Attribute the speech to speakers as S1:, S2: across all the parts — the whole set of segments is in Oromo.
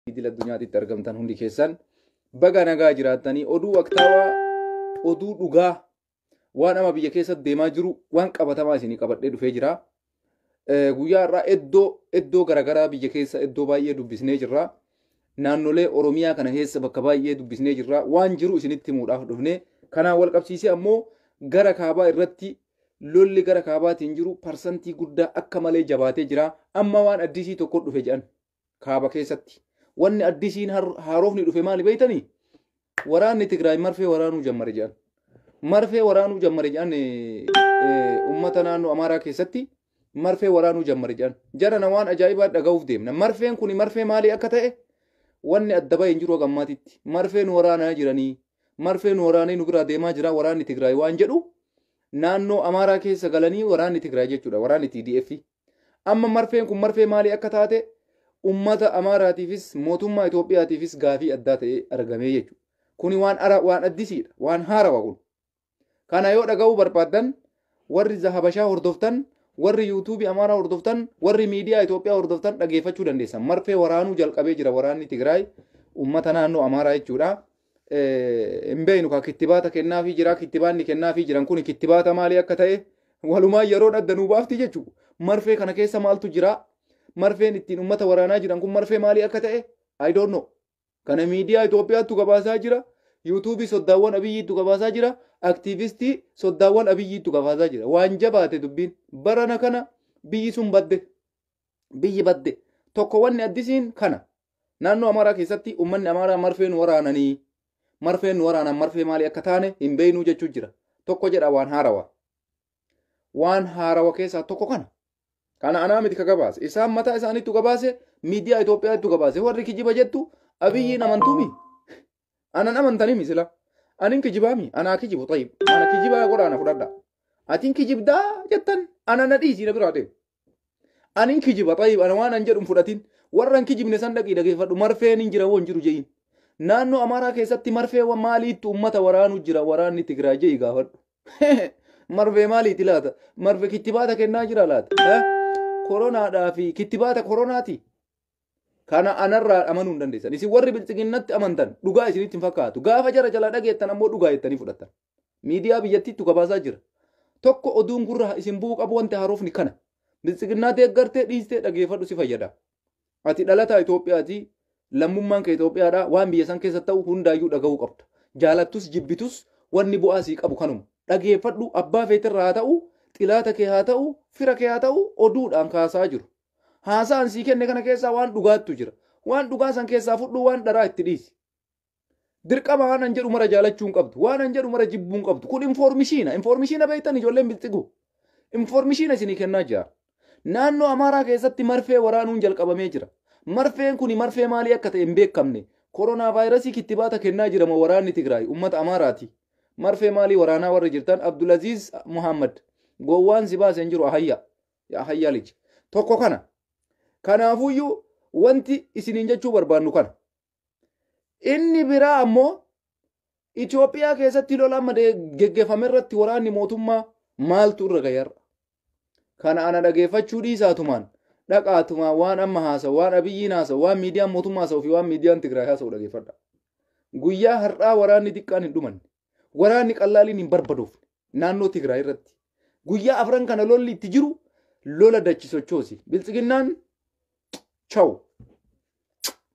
S1: idil addunyaatitti argamtan hundi keessan baga nagaa jiraattanii oduu waqtaawaa oduu dhugaa waan ama biyya keessatti deemaa jiru waan qabatamaa isinii qabadhee dhufee jira. Eh, Guyyaa irraa iddoo iddoo garaagaraa biyya keessa iddoo baay'ee dubbisnee jirra. Naannolee Oromiyaa kana keessa bakka baay'ee dubbisnee jirra. Waan jiru isinitti himuudhaaf dhufne. Kanaan wal qabsiisee ammoo gara kaabaa irratti lolli gara kaabaatiin jiru parsantii guddaa akka malee jabaatee jira. Amma waan addisii tokko dhufe jedhan. kaaba keessatti. Wanni addisiin har- haarofni dhufe maali beektanii? Waraanni Tigraay marfee waraanuu jammare jedhan. Marfee waraanuu jammare jedhan eh, eh, uummata naannoo Amaaraa keessatti marfee waraanuu jammare jedhan. Jarana waan ajaa'ibaa dhaga'uuf deemna. Marfeen kun marfee maalii akka ta'e wanni adda bahee hin jiru hanga ammaatitti. Marfee nu waraanaa jiranii, marfee nu waraanee nu biraa deemaa jira waraanni Tigraay waan jedhu naannoo Amaaraa keessa galanii waraanni Tigraay jechuudha waraanni TDF. Amma marfeen kun marfee maalii akka taate ummata Amaaraatiifis mootummaa Itoophiyaatiifis gaafii addaa ta'ee argamee jechuudha. Kuni waan ara waan addisiidha. Waan haarawa kun. Kana yoo dhaga'uu barbaaddan warri Zahabashaa hordoftan, warri yuutuubii Amaaraa hordoftan, warri miidiyaa Itoophiyaa hordoftan dhageeffachuu dandeessan. Marfee waraanuu jalqabee jira waraanni Tigraay ummata naannoo Amaaraa jechuudha. hin beeknu ka kittibaata kennaafii jira kittibaanni kennaafii jiran kun kittibaata maalii akka ta'e walumaa yeroo adda nuu baafti jechuudha. Marfee kana keessa maaltu jira? Marfeen ittiin uummata waraanaa jiran kun marfee maalii akka ta'e I don't know. Kana miidiyaa Itoophiyaattu gabaasaa jira. Yuutuubii soddaawwan abiyyiittu gabaasaa jira. Aktiivistii soddaawwan abiyyiittu gabaasaa jira. Waan jabaate dubbiin barana kana biyyi sun badde. biyyi badde tokko wanni addisiin kana naannoo amaaraa keessatti ummanni amaaraa marfeen waraananii marfeen waraanaan marfee maalii akka taane hin beeynuu jechuu jira tokko jedha waan haarawa waan haarawa keessaa tokko kana kana anaa miti ka gabaase isaan mataa isaaniittu gabaase miidiyaa Itoophiyaattu gabaase warri kijiba jettu abiyyiin amantuumi anan amantanimi sila anin kijibaami anaa kijibu tayyib ana kijibaa godhaa na fudhadha atin kijibdaa jettan ana na dhiisii na biraa deemu anin kijiba tayyib ana waan an jedhun fudhatin warran kijibne san dhaqii dhageeffadhu marfeen hin jira woon jiru je'iin naannoo amaaraa keessatti marfee wa maaliitti ummata waraanuu jira waraanni tigraay je'i gaafadhu marfee maaliiti laata marfe kittibaata kennaa jira laata Eh? koronaadhaa fi kittibaata koronaati Kana anarraa amanuu hin dandeessan. Isin warri bilxiginnatti amantan dhugaa isinitti hin fakkaatu. Gaafa jara jalaa dhageettan ammoo dhugaa jettanii fudhattan. Miidiyaa biyyattiittu gabaasaa jira. Tokko oduun gurra isin bu'uu qabu wanti haarofni kana. Bilxiginnaa deeggartee dhiistee dhageeffadhu si fayyada. Ati dhalataa Itoophiyaati. Lammummaan kee Itoophiyaadha. Waan biyya san keessa ta'u hundaayyuu dhaga'uu qabda. Jaalattus jibbitus wanni bu'aa sii qabu kanuma. Dhageeffadhu abbaa feetirraa haa ta'u, xilaata kee haa ta'u, fira kee haa ta'u oduudhaan kaasaa jiru. Haasaa an sii kenne kana keessaa waan dhugaattu jira. Waan dhugaa san keessaa fudhuu waan dharaa itti dhiisi. Dirqama waan an jedhu mara jaalachuu hin qabdu. Waan an jedhu mara jibbuu hin qabdu. Kun informishiina. Informishiina beektan ijoolleen bilxiguu. Informishiina isinii kennaa jira. Naannoo Amaaraa keessatti marfee waraanuun jalqabamee jira. Marfeen kuni marfee maalii akka ta'e hin beekamne. Koronaa vaayirasii kittibaata kennaa jirama waraanni Tigraay uummata Amaaraati. Marfee maalii waraanaa warri jirtan Abdulaziz Muhammad gowwaan si baase hin jiru ahayyaa. yaa hayyaa lij tokko kana kanaafuyyuu wanti isiniin jechuu barbaannu kana inni biraa ammoo Itoophiyaa keessatti lola amma de- geggeeffame irratti waraanni mootummaa maaltu irra ga'e har'a kana ana dhageeffachuu dhiisaatumaan dhaqaatumaan waan amma haasa'u waan abiyyiin haasa'u waan miidiyaan mootummaa haasa'u fi waan miidiyaan Tigraay haasa'u dhageeffadha guyyaa har'aa waraanni xiqqaan hin dhumanne waraanni qallaaliin hin barbadoofne naannoo Tigraay irratti guyyaa afran kana lolli itti jiru lola dachi sochoosi. Biltsiginnaan chaw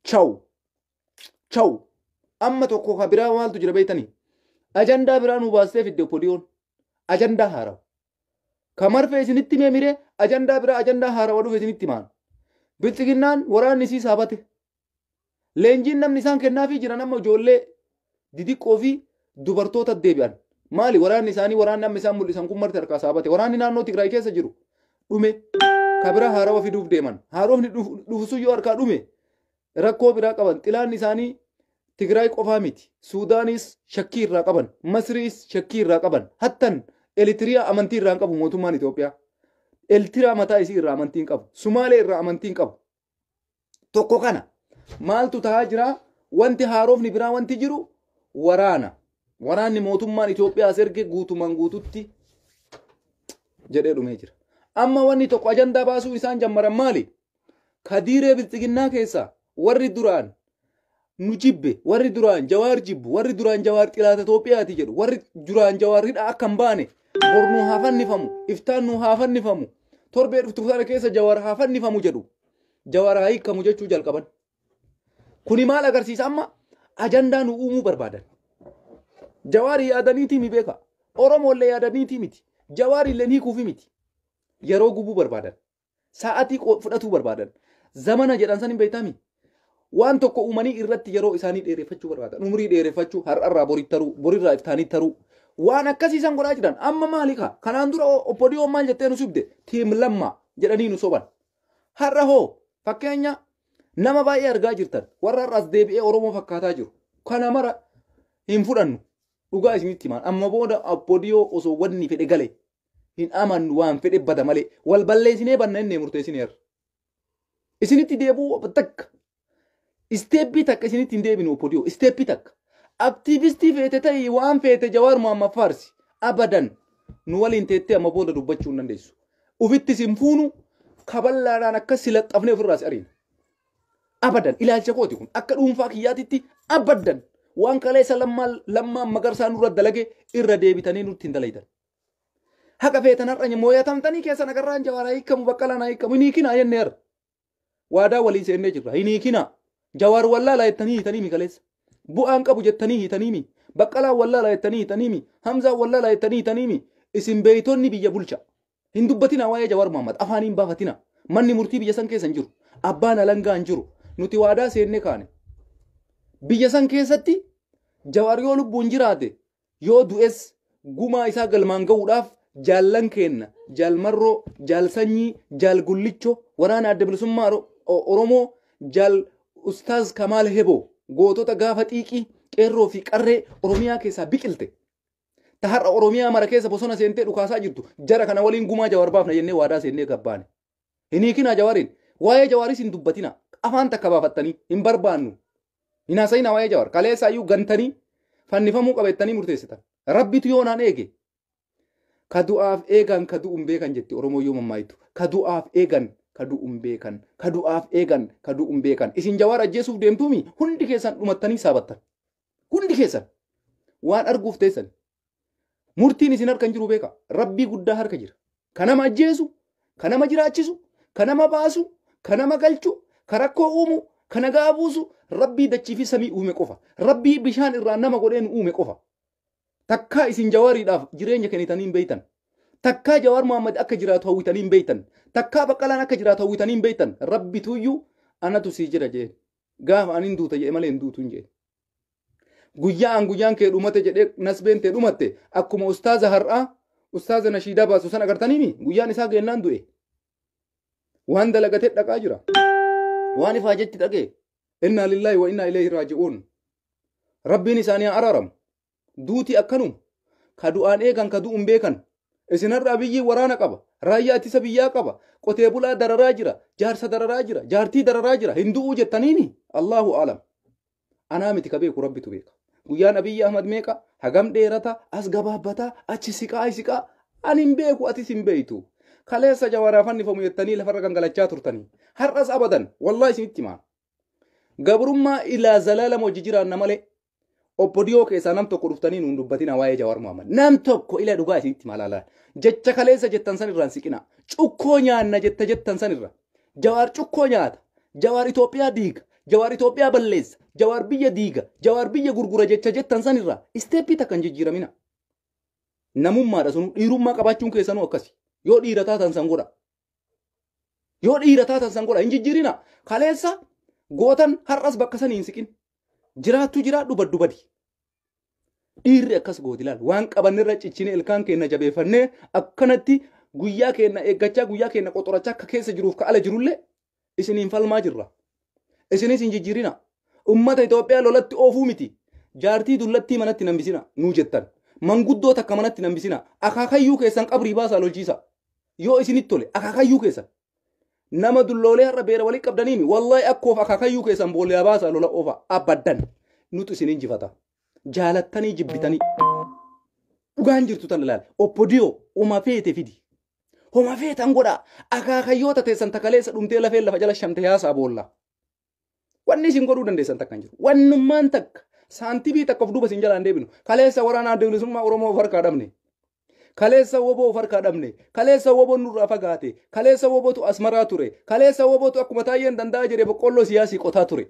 S1: chaw chaw amma tokko ka biraa maaltu jira beektanii? Ajandaa biraa nu baastee fidde opodiyoon ajandaa haarawa. Ka marfee isinitti mee miree ajandaa biraa ajandaa haarawa dhufe isinitti maan. Biltsiginnaan waraanni isii saabate Leenjiin namni isaan kennaafii jiran amma ijoollee didiqqoo fi dubartoota deebi'an. Maali waraanni isaanii waraanni amma isaan mul'isan kun marti harkaa saabate. Waraanni naannoo Tigraay keessa jiru dhume kabira haarawa fiduuf deeman. Haarofni dhufu sun yoo harkaa dhume rakkoo biraa qaban. Xilaanni isaanii Tigraay qofaa miti. Suudaanis shakkii irraa qaban. Masriis shakkii irraa qaban. Hattan Elitiriyaa amantii irraa hin qabu mootummaan Itoophiyaa. Elitiriyaa mataa isii irraa amantii hin qabu. Sumaalee irraa amantii hin qabu. Tokko kana maaltu tahaa jira wanti haarofni biraa wanti jiru waraana. Waraanni mootummaan Itoophiyaas erge guutumaan guututti jedhee dhumee jira. Amma wanni tokko ajandaa baasuu isaan jammaran maali? Kadiiree bilxiginnaa keessaa warri duraan nu jibbe warri duraan jawaar jibbu warri duraan jawaar xilaata Itoophiyaati jedhu warri duraan jawaar hidhaa akka hin baane bor nu haa fannifamu iftaan nu haa fannifamu torbee dhuftu sana keessa jawaar haa fannifamu jedhu jawaar haa hiikamu jechuu jalqaban. Kuni maal agarsiisa amma ajandaa nu uumuu barbaadan. Jawaar yaadaniitii mi beeka? Oromoollee yaadaniitii miti. Jawaar illee hiikuufi miti. Yeroo gubuu barbaadan. Sa'atii qo- fudhatuu barbaadan. Zamana jedhan san hin beektaami. Waan tokko uumanii irratti yeroo isaanii dheereffachuu barbaadan. Umrii dheereffachuu, har'arraa boritti taruu, borirraa iftaanii taruu. Waan akkasii san godhaa jiran. Amma maali kaa? Kanaan dura o- obbo Diyoon maal jettee nu sobde? Tiim lammaa jedhanii nu soban. Har'a hoo fakkeenya nama baay'ee argaa jirtan. Warra har'as deebi'ee Oromoo fakkaataa jiru. Kana mara hin fudhannu. Dhugaa isinitti himaan. Amma booda obbo Diyoo osoo wanni fedhe gale hin amannu waan fedhe bada malee wal balleessinee banna inni murteessineerra. Isinitti deebi'uu takka isteeppii takka isinitti hin deebinu opodiyoo isteeppii takka aktiivistii feete ta'ii waan feete jawaar muhammad faarsi abadan nu waliin teettee amma booda dubbachuu hin dandeessu. Ufittis hin fuunu kaballaadhaan akka si laxxafnee ofirraas ariina. Abadan ilaalcha kooti kun akka dhuunfaa kiyyaatitti abadan waan kaleessa lammaan lammaan magarsaa nurra dalage irra deebitanii nutti hin dalaydan. Haqa feetan har'a mooyatamtanii keessan agarraan jawaar haa hiikamu baqqalaan haa hiikamu hin hiikinaa jennee har'a. Waadaa walii seennee jirra hin hiikinaa. Jawaar wallaalaa jettanii hiitanii mi kaleessa. Bu'aan qabu jettanii hiitanii mi. Baqqalaan wallaalaa jettanii hiitanii mi. Hamzaan wallaalaa jettanii hiitanii mi. Isin beeytonni biyya bulcha. Hin dubbatinaa waa'ee Jawaar Muhammad afaan hin baafatinaa. Manni murtii biyya san keessa hin jiru. Abbaan alangaa hin jiru. Nuti waadaa seennee kaane. Biyya san keessatti Jawaar yoo lubbuun jiraate Yoo du'es gumaa isaa galmaan gahuudhaaf jaallan keenna jaal marroo, jaal sanyii, jaal gullicho, waraana adda bilisummaa Oro- O- Oromoo, jaal ustaaz kamaal heboo gootota gaafa xiiqii qeerroo fi qarree Oromiyaa keessaa biqilte. Ta har'a Oromiyaa mara keessa bosona seentee dhukaasaa jirtu jara kana waliin gumaa jawaar baafna jennee waadaa seennee gabbaane. Hin hiikinaa Jawaariin. Waa'ee Jawaaris hin dubbatina. Afaan takka baafattanii hin barbaannu. Hin haasa'inaa waa'ee Jawaar. Kaleessaa iyyuu gantanii fannifamuu qabeettanii murteessitan. Rabbitu yoo naan eege. Ka du'aaf eegan ka du'u hin beekan jetti Oromoo yoo mammaaytu. Ka du'aaf eegan ka du'u hin beekan. Ka du'aaf eegan ka du'u hin beekan. Isin Jawaar ajjeesuuf deemtuumi hundi keessan dhumattanii saabattan. Hundi keessan waan arguuf teessan. Murtiin isin harka hin jiru beeka. Rabbii guddaa harka jira. Ka nama ajjeesu, ka nama jiraachisu, ka nama baasu, ka nama galchu, ka rakkoo uumu, ka nagaa buusu, rabbii dachii fi samii uume qofa. Rabbii bishaan irraa nama godhee nu uume qofa. Takkaa isin jawaariidhaaf jireenya kennitanii hin beektan. Takkaa jawaar Muhammad akka jiraatu hawwitanii hin beektan. Takkaa baqqalaan akka jiraatu hawwitanii hin beektan. Rabbi tuyyuu anatu sii jira jeen. Gaafa anin duuta jee malee hin duutu hin jeen. guyyaan guyyaan kee dhumate jedhee nasbeen tee dhumatte akkuma ustaaza har'aa ustaaza nashiidaa baasu san agartaniimi guyyaan isaa geennaan du'e waan dalagatee dhaqaa jira waan ifaa jetti dhaqee innaa lillaahi wa innaa ileehi raaji'uun rabbiin isaanii haa araaramu duuti akkanuma ka du'aan eegan ka du'uun beekan isin har'a abiyyiin waraana qaba raayyaa ittisa biyyaa qaba qotee bulaa dararaa jira jaarsa dararaa jira jaartii dararaa jira hin du'uu jettaniini allahu alam anaa miti ka beeku rabbitu beeka guyyaan abiyyi ahmad meeqa hagam dheerata as gabaabbataa achi siqaa siqaa ani hin beeku atis hin beeytu kaleessa jawaraa fannifamu jettanii lafarra gangalachaa turtanii har'as abadan wallaa isinitti himaa gabrummaa ilaa zalaalama hojii jiraanna malee Obbo Diyoo keessaa nam tokko dhuftanii nuun dubbatina waa'ee Jawaar Muhammad. Nam tokko ila dhugaa isinitti malaalaa. Jecha kaleessa jettan san irraan siqinaa. Cukkoo nyaanna jetta jettan san irra. Jawaar cukkoo nyaata. Jawaar Itoophiyaa diiga. Jawaar Itoophiyaa balleessa. Jawaar biyya diiga. Jawaar biyya gurgura jecha jettan san irraa isteeppii takka hin jijjiiramina. Namummaadha sun dhiirummaa qabaachuun keessanuu akkasi. Yoo dhiira taatan san godha. Yoo dhiira taatan san godha hin jijjiirina. Kaleessa gootan har'as bakka sanii hin siqin. Jiraattu jiraadhu baddu badi. Dhiirri akkas gooti laal waan qabannerra cichine ilkaan keenna jabeeffannee akkanatti guyyaa keenna eeggachaa guyyaa keenna qoxorachaa akka keessa jiruuf ka ala jirullee isiniin falmaa jirra. Isinis hin jijjiirina. Ummata Itoophiyaa lolatti oofuu miti. Jaartii dullattii manatti nambisina nuu jettan. Manguddoo takka manatti nambisina. Akaakayyuu keessan qabrii baasaa lolchiisa. Yoo isinitti tole akaakayyuu keessan. Nama dulloolee har'a beera walii qabdaniimi. Wallahi akkoof akaakayyuu keessan boolyaa baasaa lola oofa. Abaddan. Nutu isin injifata. Jaalattanii jibbitanii. Dhugaan jirtu tan ilaali. Oppodiyoo uma feete fidi. Homa feetan godhaa. Akaakayyoota teessan takaleessa dhumtee lafeen lafa jala shamte yaasaa boolla. Wanni isin godhuu dandeessan takka hin jiru. Wannummaan takka saantibii takka of duuba isin jalaan deebinu. Kaleessa waraanaa bilisummaa Oromoo of harkaa dhabne. Kaleessa woboo of harkaa dhabne. Kaleessa woboon nurraa fagaate. Kaleessa wobotu asmaraa ture. Kaleessa wobotu akkuma taayyeen danda'a jedhee boqqolloo siyaasii qotaa ture.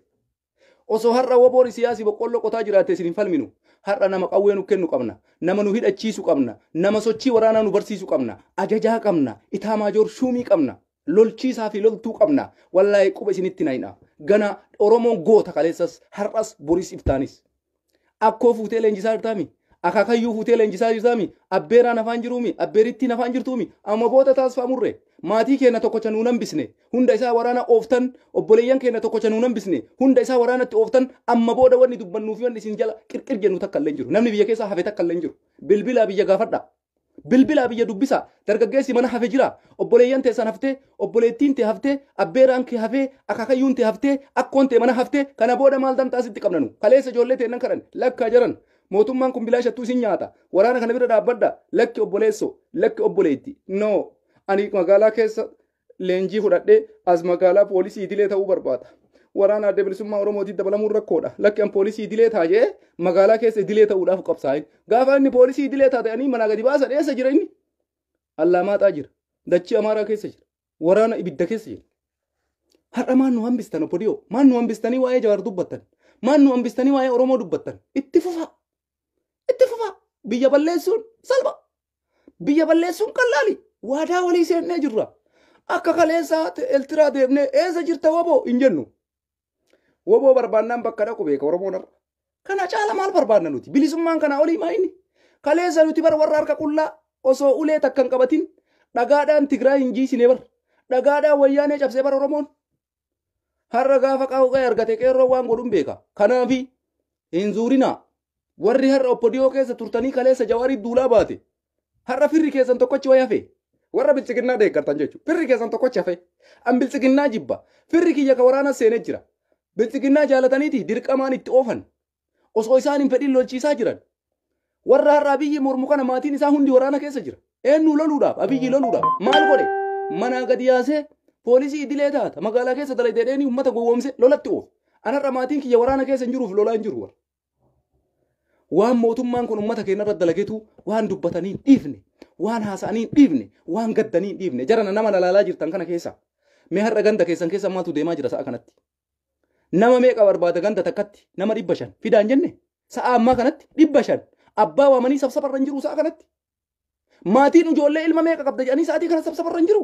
S1: Osoo har'a woboon Isiyaasi boqqolloo qotaa jiraatte isin hin falminu. Har'a nama qawwee nu kennu qabna. Nama nu hidhachiisu qabna. Nama sochii waraanaa nu barsiisu qabna. Ajajaa qabna. Itaamaajoor shuumii qabna. Lolchiisaa fi loltuu qabna. Wallaahi quba isinitti nayna. Gana Oromoon goota kaleessas, har'as, boris, iftaanis. Akkoo fuutee leenjisaa jirtaami. Akaakayyuu fuutee leenjisaa jirtaami. Abbeeraan afaan jiruumi. Abbeerittiin afaan jirtuumi. Amma booda taasifaa murre. Maatii keenya tokkocha nuun hambisne. Hunda isaa waraana ooftan. Obboleeyyan keenya tokkocha nuun hambisne. Hunda isaa waraanatti ooftan. Amma booda wanni dubbannuu fi wanni isin jala qirqir jennu takka illee hin jiru. Namni biyya keessaa hafe takka illee hin jiru. Bilbilaa biyya gaafadhaa. Bilbilaa biyya dubbisaa. Dargaggeessi mana hafe jira. Obboleeyyan teessan haftee, obboleettiin tee haftee, abbeeraan kee hafee, akaakayyuun tee haftee, akkoon tee mana hafte, kana booda maal dantaa sitti qabna nu? Kaleessa ijoollee teennan kadhanne. Lakkaa jaran! Mootummaan kun bilaashattuu isin nyaata. Waraana kana bira dhaabbadhaa. Lakki obboleessoo. Lakki obboleetti. No! Ani magaalaa keessa leenjii fudhadhee as magaalaa poolisii idilee ta'uu barbaada. Waraana adda bilisummaa Oromootiin dabalamuun rakkoodha. Lakki an poolisii idilee ta'a jedhee magaalaa keessa idilee ta'uudhaaf qabsaa'e. Gaafa inni poolisii idilee ta'a ta'anii manaa gadi baasan eessa jira inni? Allaamaaxaa jira. Dachii Amaaraa keessa jira. Waraana ibidda keessa jira. Har'a maan nu hambistan obbo Diyoo? Maan nu hambistanii waa'ee Jawaar dubbattan? Maan nu hambistanii waa'ee Oromoo dubbattan? Itti fufaa! Itti fufaa! Biyya balleessuun salpha! Biyya balleessuun qallaali. Waadaa walii seennee jirra. Akka kaleessaa Eltiraa deemnee eessa jirta waboo hin jennu. Waboo barbaannaan bakka dhaqu beeka Oromoon har'a. Kana caala maal barbaanna nuti? Bilisummaan kanaa olii maa inni? Kaleessa nuti bar warra harka qullaa osoo ulee takka hin qabatin dhagaadhaan Tigraay hin jiisine bar. Dhagaadhaan wayyaanee cabsee bar Oromoon. Har'a gaafa qawwee argate qeerroo waan godhun beeka. Kanaafi hin zuurinaa. Warri har'a oppodiyoo keessa turtanii kaleessa jawaarii duulaa baate. Har'a firri keessan tokkochi wayi hafe. Warra biltsiginnaa deeggartan jechuudha. Firri keessan tokkochi hafe. An biltsiginnaa jibba. Firri kiyya ka waraana seenee jira. Biltsiginnaa jaalataniiti dirqamaan itti oofan. Osoo isaan hin fedhin lolchiisaa jiran. Warra har'a Abiyyi mormu kana maatiin isaa hundi waraana keessa jira. Eenyu loluudhaaf? Abiyyi loluudhaaf. Maal godhe? Manaa gadi yaasee poolisii idilee taata. Magaalaa keessa dalaydee dheenii uummata gowwoomse lolatti oof. An har'a maatiin kiyya waraana keessa hin jiruuf lolaa hin jiru warra. Waan mootummaan kun uummata keenya irratti dalagetu waan dubbatanii hin dhiifne, waan haasa'anii hin dhiifne, waan gaddanii hin dhiifne. Jarana nama lalaalaa jirtan kana keessa. Mee har'a ganda keessan keessa maaltu deemaa jira sa'a kanatti? Nama meeqa barbaada ganda takkatti nama dhibba shan fidaan jenne sa'a ammaa kanatti dhibba shan abbaa waamanii sabsabarra hin jiru sa'a kanatti. Maatiin ijoollee ilma meeqa qabda jedhanii sa'aatii kana sabsabarra hin jiru.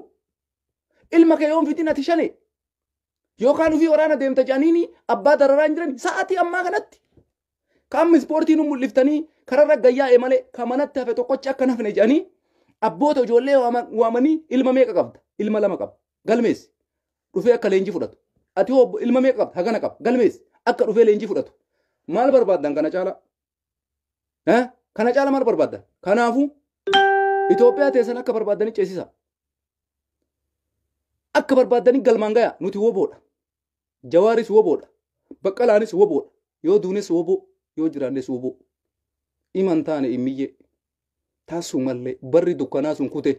S1: Ilma kee yoon fidin ati shane yookaan ofii waraana deemta jedhanii abbaa dararaa hin jiran sa'aatii ammaa kanatti. Qaamni ispoortii nu mul'iftanii kararra gayyaa'e malee kan manatti hafe tokkochi akka hin hafne jedhanii abboota ijoollee waama- waamanii ilma meeqa qabda? Ilma lama qaba. galmeessi dhufee akka leenjii fudhatu ati hoo obbo- ilma meeqa qabda hagana qaba galmeessi akka dhufee leenjii fudhatu maal barbaaddan kana caalaa Eh? kana caalaa maal barbaaddan kanaafuu Itoophiyaa teessan akka barbaaddanii ceesisa akka barbaaddanii galmaan gaya nuti woboodha jawaaris woboodha baqqalaanis woboodha yoo duunes woboo yoo jiraannes woboo iman taane immiyyee taasuu mallee barri dukkanaa sun kute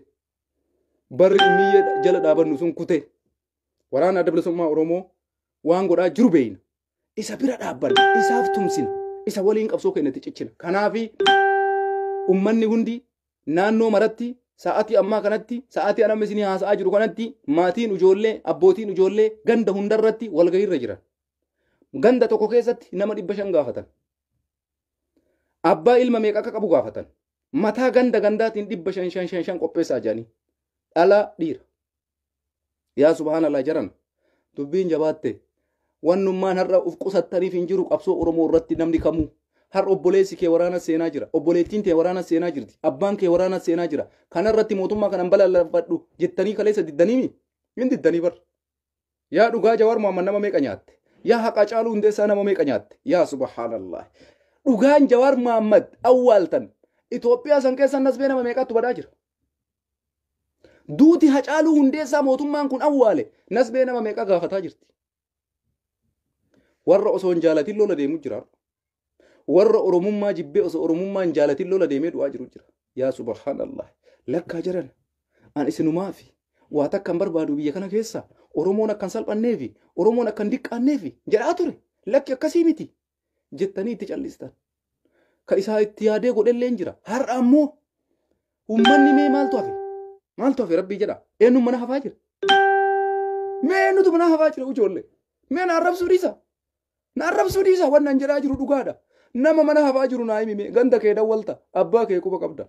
S1: barri miyyee jala dhaabannu sun kutee waraana adda bilisummaa Oromoo waan godhaa jiru beeyna. Isa bira dhaabbanna, isaaf tumsina, isa waliin qabsoo keenyatti cichina. Kanaafi ummanni hundi naannoo maratti sa'aatii ammaa kanatti sa'aatii anamni isinii haasa'aa jiru kanatti maatiin ijoollee abbootiin ijoollee ganda hundarratti walgahiirra jiran. Ganda tokko keessatti nama dhibba shan gaafatan. Abbaa ilma meeqa akka qabu gaafatan. mataa ganda gandaatiin dhibba shan shan shan shan qopheessaa jedhanii dhalaa dhiira yaa subhaanallah jaran dubbiin jabaatte wannummaan har'a uf qusattaniif hin jiru qabsoo oromoo irratti namni kamuu har obboleessi kee waraana seenaa jira obboleettiin tee waraana seenaa jirti abbaan kee waraana seenaa jira kana irratti mootummaa kanan balaaleffadhu jettanii kaleessa diddaniimi hin diddanii bar Yaa dhugaa Jawaar Muhammad nama meeqa nyaatte? Yaa haqaa Caaluu Hundeessaa nama meeqa nyaatte? Yaa subhaanallah. Dhugaan Jawaar Muhammad awwaaltan Itoophiyaa san keessa nasbee nama meeqaattu badaa jira? Duuti Hacaaluu Hundeessaa mootummaan kun awwaale nasbee nama meeqa gaafataa jirti? Warra osoo hin jaalatin lola deemu jira. Warra Oromummaa jibbee osoo Oromummaa hin jaalatin lola deemee du'aa jiru jira. Yaa subhaanallah. Lakkaa jiran. An isinumaafi. Waa takka hin barbaadu biyya kana keessa. Oromoon akka hin salphanneefi. Oromoon akka hin diqqaanneefi. Jedhaa ture. Lakki akkasii miti. Jettanii itti callistan. Ka isaa itti yaadee godhellee hin jira. Har'a ammoo ummanni mee maaltu hafe? Maaltu hafe rabbii jedha. Eenyuun mana hafaa jira? Mee eenyutu mana hafaa jira ijoollee? Mee na arrabsuu dhiisa. Na arrabsuu dhiisa waan naan jedhaa jiru dhugaadha. Nama mana hafaa jiru naa himime ganda kee dawwalta abbaa kee quba qabda.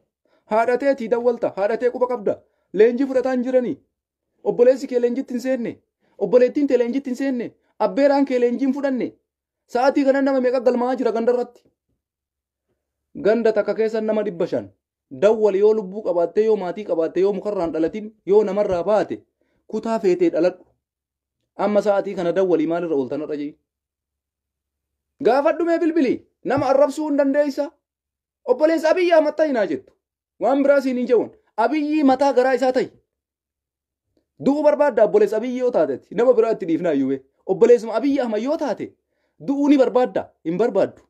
S1: Haadha teetii dawwalta haadha tee quba qabda. Leenjii fudhataa hin jiranii. Obboleessi kee leenjitti hin seenne. Obboleettiin tee leenjitti hin seenne. Abbeeraan kee leenjii hin fudhanne. Sa'aatii kana nama meeqa galmaa'aa jira ganda irratti. Ganda takka keessa nama dhibba shan. Dawwali yoo lubbuu qabaattee yoo maatii qabaattee yoo mukarraan dhalatin yoo namarraa baate kutaa feetee dhaladhu. Amma sa'aatii kana dawwalii maalirra ooltan har'a jee. Gaafadhumee bilbilii nama arrabsuu hin dandeessa. Obboleessa Abiyyi Ahmad ta'i naa jettu. Waan biraa siin hin jawwan. Abiyyii mataa garaa isaa ta'i. Du'uu barbaadda obboleessa Abiyyi yoo taatetti nama biraa itti dhiifnaa iyyuu bee. Obboleessuma Abiyyi Ahmad yoo taate du'uu ni barbaadda hin barbaaddu.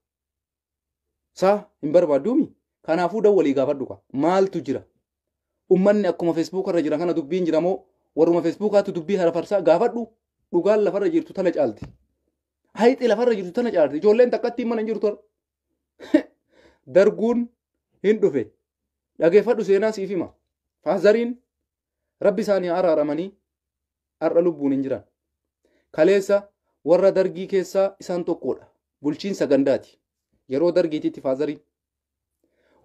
S1: Saa hin barbaadduumi? Kanaafuu dawwalii gaafadhu kaa. Maaltu jira? Ummanni akkuma Feesbuuka irra jiran kana dubbiin jira moo warruma Feesbuukaatu dubbii harafarsaa gaafadhu dhugaan lafarra jirtu tana caalti. Hayxi lafarra jirtu tana caalti. Ijoolleen takkattiin mana hin jirtu. Darguun hin dhufe. Dhageeffadhu seenaa siif hima. Faazariin Rabbi isaanii haa araaramanii har'a lubbuun hin jiran. Kaleessa warra dargii keessaa isaan tokkodha. Bulchiinsa gandaati. Yeroo dargiititti faazarii.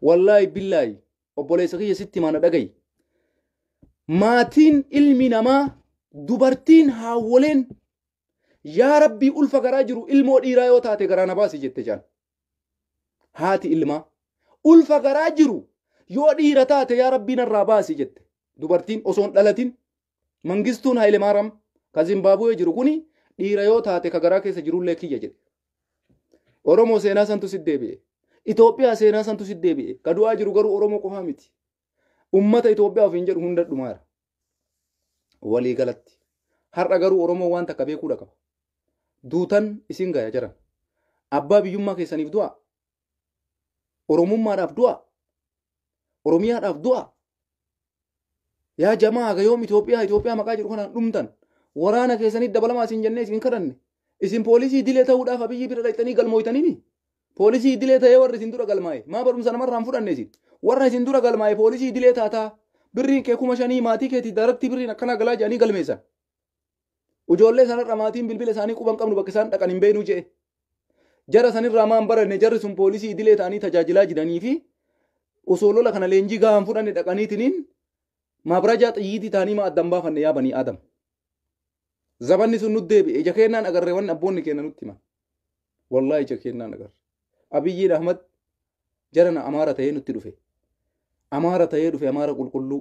S1: Wallaahi billaahi obboleessa kiyya sitti mana dhagayi. Maatiin ilmi namaa dubartiin haawwoleen Yaa Rabbii ulfa garaa jiru ilmoo dhiiraa yoo taate garaa na baasi jette jaan. Haati ilmaa ulfa garaa jiru yoo dhiira taate yaa Rabbii narraa baasi jette. Dubartiin osoo hin dhalatin Mangistuun Haayilemaaraam ka Zimbaabuwee jiru kuni dhiira yoo taate ka garaa keessa jirullee kiyya jedhe. Oromoo seenaa santu si deebi'e. Itoophiyaa seenaa santu si deebi'e. Ka du'aa jiru garuu Oromoo qofaa miti. Ummata Itoophiyaa ofiin jedhu hunda dhumaara. walii galatti har'a garuu oromoo waan takka beekuudha qaba duutan isin gaya jiran abbaa biyyummaa keessaniif du'a oromummaadhaaf du'a oromiyaadhaaf du'a yaa jamaa gayoom Itoophiyaa Itoophiyaa maqaa jedhu kanaan dhumtan waraana keessanii dabalamaa isin jennee isin kadhanne isin poolisii dilee ta'uudhaaf abiyyi bira dhaqxanii galmooytanii Poolisii idilee ta'ee warri isin dura galmaa'e maa barumsa namarraa hin fudhanne isin? Warra isin dura galmaa'e poolisii idilee taataa birriin kee kuma shanii maatii keetii daaraktii birriin akkanaa galaa jedhanii galmeessan. Ujoollee sanarra maatiin bilbila isaanii quban qabnu bakka isaan dhaqan hin beeknu je'e. Jara sanirraa maan baranne jarri sun poolisii idilee ta'anii tajaajilaa jiranii fi osoo lola kana leenjii gahaa hin fudhanne dhaqaniitiniin maabrajaa xiyyiitii ta'anii maa addan baafanne yaa banii aadam. Zabanni sun nu deebi'e. Ija keennaan agarre wanni abboonni keenya nutti himan. Wallaahi ija keennaan agarre. Abiyyiin Ahmad jarana Amaara ta'ee nutti dhufe. Amaara ta'ee dhufe Amaara qulqulluu.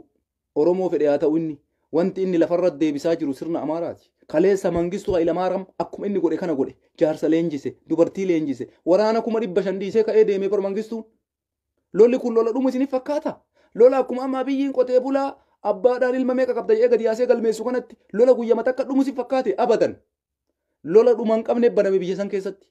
S1: Oromoo fedhe haa ta'u inni. Wanti inni lafarra deebisaa jiru sirna Amaaraati. Kaleessa Mangistuu Hayilamaaram akkuma inni godhe kana godhe. Jaarsa leenjise, dubartii leenjise, waraana kuma dhibba shan dhiisee ka'ee deeme bar Mangistuun. Lolli kun lola dhumu isiniif fakkaata? Lola akkuma amma abiyyiin qotee bulaa abbaadhaan ilma meeqa qabda jedhee gadi yaasee galmeessu kanatti lola guyyama takka dhumu isiniif fakkaate abadan. Lola dhuma hin qabne baname biyya san keessatti.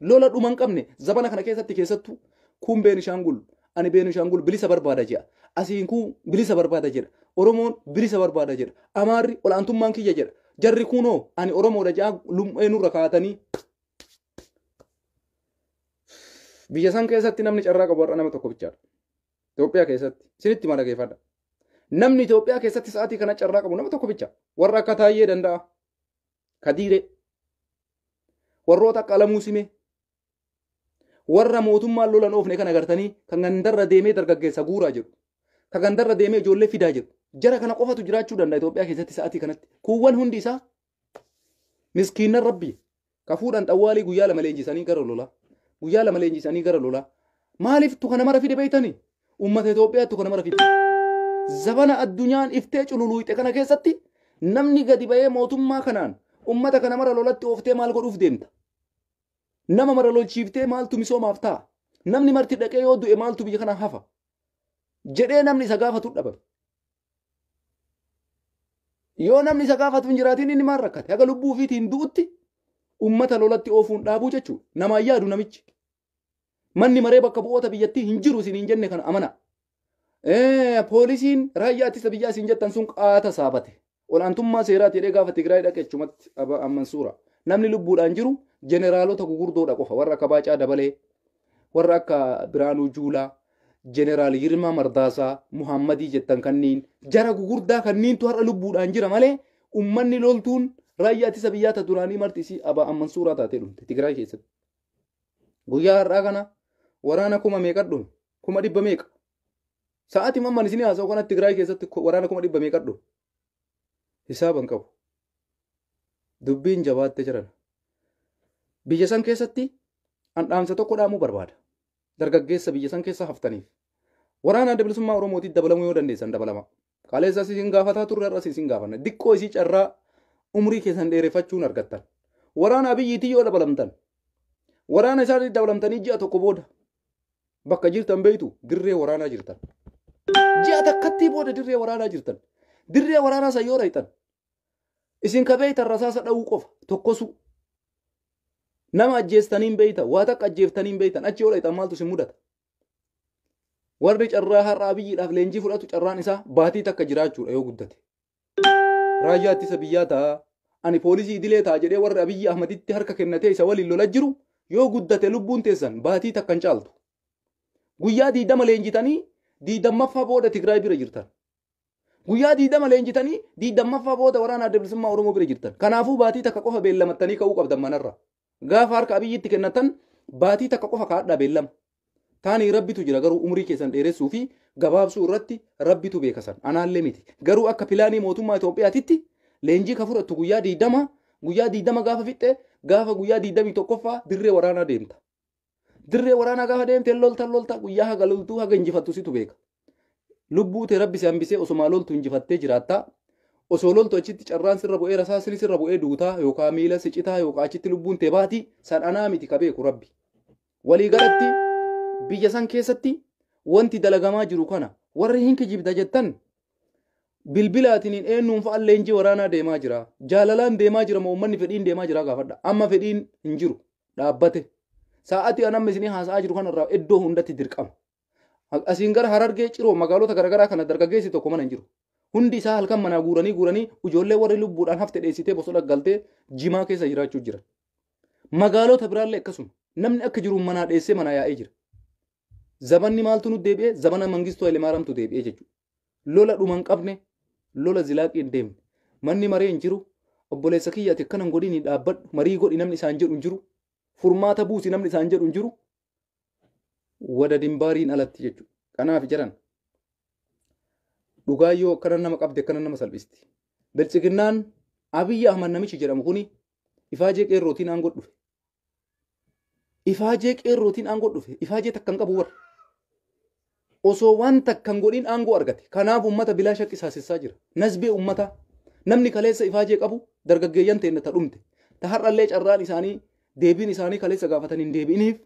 S1: Lola dhuma hin qabne zabana kana keessatti keessattuu kun Beenishaangul ani Beenishaangul bilisa barbaada jedha. Asiin kun bilisa barbaada jedha. Oromoon bilisa barbaada jedha. Amaarri olaantummaan kiyya jedha. Jarri kunoo ani Oromoodha jedha lummee nurra kaa'atanii Biyya san keessatti namni carraa qabu har'a nama tokko bichaadha. Itoophiyaa keessatti isinitti mala geeffadha. Namni Itoophiyaa keessatti sa'aatii kana carraa qabu nama tokko bicha. Warra akka Taayyee danda'a. Kadiiree. Warroota akka Alamuu Simee. Warra mootummaan lolan oofne kan agartanii kan gandarra deemee dargaggeessa guuraa jiru. Kan gandarra deemee ijoollee fidaa jiru. Jara kana qofatu jiraachuu danda'a Itoophiyaa keessatti sa'aatii kanatti. Kuuwwan hundi isaa miskiinna rabbii ka fuudhan xawwaalii guyyaa lama leenjisanii gara lolaa guyyaa lama leenjisanii gara lolaa maaliif tu kana mara fide beeytanii ummata Itoophiyaa tu kana mara fide zabana addunyaan iftee cululuuxxe kana keessatti namni gadi ba'ee mootummaa kanaan ummata kana mara lolatti ooftee maal godhuuf deemta nama mara lolchiiftee maaltu misoomaaf ta'a namni marti dhaqee yoo du'e maaltu biyya kana hafa jedhee namni isa gaafatu dhaban Yoo namni isa gaafatu hin jiraatiin inni maal rakkate? Haga lubbuu ofiitiin du'utti ummata lolatti oofuun dhaabuu jechuudha. Namaan yaadu namichi. Manni maree bakka bu'oota biyyattii hin jiru isin hin jenne kana amana. Poolisiin raayyaa ittisa biyyaa isin jettan sun qaata saabate. Ol'aantummaa seeraati jedhee gaafa Tigraay dhaqe achumatti Abaa Amman suura. Namni lubbuudhaan jiru jeneraalota gugurdoodha qofa warra akka Baacaa Dabalee Warra akka Biraanuu Juulaa, Jeneraal Yirmaa Mardaasaa, Muhaammadii jettan kanniin jara gugurdaa kanniintu har'a lubbuudhaan jira malee ummanni loltuun raayyaa ittisa biyyaa ta duraanii marti isii abaa amman suuraa taatee dhumte Tigraay keessatti. Guyyaa har'aa kana waraana kuma meeqa dhume? Kuma dhibba meeqa? Sa'aatii mamman isinii haasa'u kanatti Tigraay keessatti waraana kuma dhibba meeqa dhume? hisaaba hin qabu dubbiin jabaatte jiran biyya san keessatti an dhaamsa tokko dhaamuu barbaada dargaggeessa biyya san keessa haftaniif waraana adda bilisummaa oromootiif dabalamuu yoo dandeessan dabalama kaleessa isin gaafataa turre irras isin gaafanna diqqoo isii carraa umrii keessan dheerefachuun argattan waraana abiyyiitii yoo dabalamtan waraana isaanii dabalamtanii ji'a tokko booda Bakka jirtan beektu dirree waraanaa jirtan. Ji'a takkattii booda dirree waraanaa jirtan. Dirree waraanaa san yoo dhayxan isin ka beektan rasaasa dha'uu qofa tokkosuu. Nama ajjeestanii hin beektan waa takka ajjeeftanii hin beektan achi yoo dhayxan maaltu isin mudata. Warri carraa har'a abiyyiidhaaf leenjii fudhatu carraan isaa baatii takka jiraachuudha yoo guddate. Raayyaa ittisa biyyaa ta'a. Ani poolisii idilee ta'a jedhee warri Abiyyi Ahmaditti harka kennatee isa waliin lola jiru yoo guddate lubbuun teessan baatii takka hin caaltu. Guyyaa diidama leenjitanii diidammaffaa booda Tigraay bira jirtan. Guyyaa diidama leenjitanii diidammaffaa booda waraana adda bilisummaa Oromoo bira jirtan. Kanaafuu baatii takka qofa beellamattanii ka'uu qabdan manarra. Gaafa harka Abiyyitti kennatan baatii takka qofa kaadhaa beellama. Taanii rabbitu jira garuu umrii keessan dheeressuu fi gabaabsuu irratti rabbitu beeka san anaallee miti. Garuu akka pilaanii mootummaa Itoophiyaatitti leenjii ka fudhattu guyyaa diidama guyyaa diidama gaafa fixxe gaafa guyyaa diidamii tokkoffaa dirree waraanaa deemta. Dirree waraanaa gaafa deemte lolta lolta guyyaa haga loltuu haga injifattu situ beeka. Lubbuu tee rabbi si hambisee osoma loltu injifattee jiraattaa. Osoo loltu achitti carraan sirra bu'ee rasaasni sirra bu'ee duutaa yookaan miila si citaa yookaan achitti lubbuun tee baati san anaa miti ka beeku rabbi. Walii galatti biyya san keessatti wanti dalagamaa jiru kana warri hin kijibda jettan bilbilaatiniin eenyuun fa'a leenjii waraanaa deemaa jira. Jaalalaan deemaa jira moo uummanni fedhiin deemaa jira gaafadha. Amma fedhiin hin jiru. Dhaabbate. Sa'aatii an amma isinii haasa'aa jiru kanarraa iddoo hundatti dirqama. Asiin gara harargee ciroo magaalota garaagaraa kana dargaggeessi tokko mana hin jiru. Hundi isaa halkan manaa guuranii guuranii ijoollee warri lubbuudhaan hafte dheessitee bosona galtee jimaa keessa jiraachuu jira. Magaalota biraallee akkasuma namni akka jiru manaa dheessee manaa yaa'ee jira. Zabanni maaltu nu deebi'e? Zabana Mangistuu Hayilemaariyaamtu deebi'e jechuudha. Lola dhuma hin qabne, lola zilaaqii hin deemne. Manni maree hin jiru. Obboleessa kiyya ati akkana hin godhini dhaabbadhu. Marii godhi namni isaan jedhu hin jiru. Furmaata buusi namni isaan jedhu hin jiru. Wada dimbaariin alatti jechuudha. Kanaaf jedhan dhugaa yoo akkana nama qabde akkana nama salphisti. Biltsiginnaan Abiyyi Ahmad namichi jedhamu kuni Ifaajee qeerrootiin aangoo dhufe. Ifaajee qeerrootiin aangoo dhufe. Ifaajee takka hin qabu warra. Osoo waan takka hin godhin aangoo argate. Kanaaf uummata bilaa shakkii saasissaa jira. Nasbee uummataa. Namni kaleessa ifaajee qabu dargaggeeyyan teenna ta dhumte. Ta har'allee carraan isaanii deebiin isaanii kaleessa gaafatan hin deebi'iniif